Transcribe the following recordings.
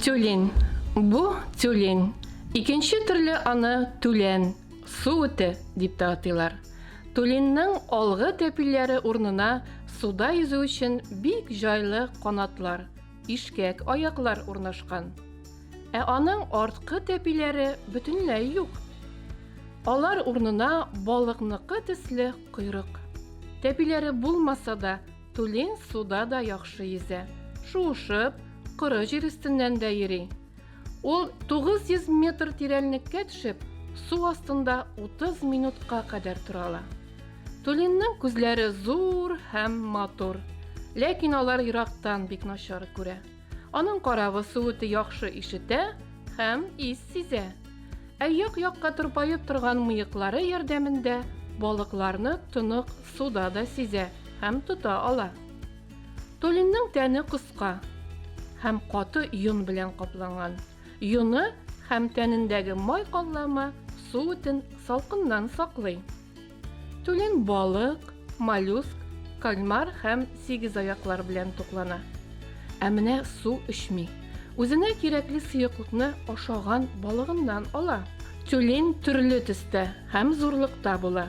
Тюлень. Бу тюлень. Икенче төрле аны түлән, су үте дип тә атыйлар. Түленнең алгы тәпиләре урнына суда йөзү өчен бик җайлы канатлар, ишкәк аяклар урнашкан. Ә аның арткы тәпиләре бөтенләй юк. Алар урнына балыкныкы төсле койрык. Тәпиләре булмаса да, тулень суда да яхшы йөзә. Шуышып, коры җир өстеннән дә йөри. Ул 900 метр тирәнлеккә төшеп, су астында 30 минутка кадәр тора ала. Тулинның күзләре зур һәм матур, ләкин алар ерактан бик начар күрә. Аның каравы суыты яхшы ишетә һәм ис сизә. Ә як-якка тырпаеп торган мыеклары ярдәмендә балыкларны тонык суда да сизә һәм тота ала. Толинның тәне кыска һәм каты йон белән капланган. Йоны һәм тәнендәге май каллама су үтен салкыннан саклый. Тулин балык, моллюск, кальмар һәм сигезаяклар белән туклана. Ә менә су эчми. Үзенә кирәкле сыеклыкны ашаган балыгыннан ала. Тюлень төрле төстә һәм зурлыкта була.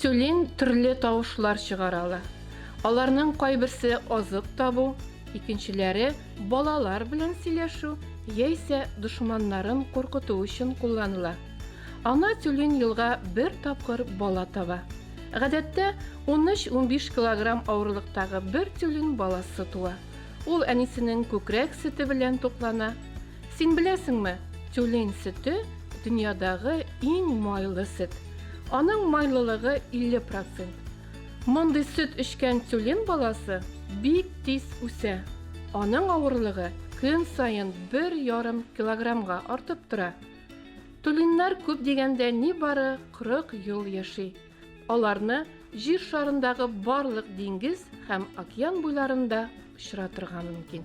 Тюлень төрле тавышлар чыгара ала. Аларның кайберсе азык табу, икенчеләре балалар белән сөйләшү яисә дошманнарын куркыту өчен кулланыла. Ана тюлень елга бер тапкыр бала таба. Гадәттә, 13-15 килограмм авырлыктагы бер тюлень баласы туа. Ул әнисенең күкрәк сөте белән туклана. Син беләсеңме, тюлень сөте, дөньядагы иң майлы сөт. Аның майлылыгы 50 процент. Мондый сөт эчкән тюлень баласы бик тиз үсә. Аның авырлыгы көн саен бер ярым килограммга артып тора. Тюленьнәр күп дигәндә нибары 40 ел яши. Аларны Җир шарындагы барлык диңгез һәм океан буйларында очратырга мөмкин.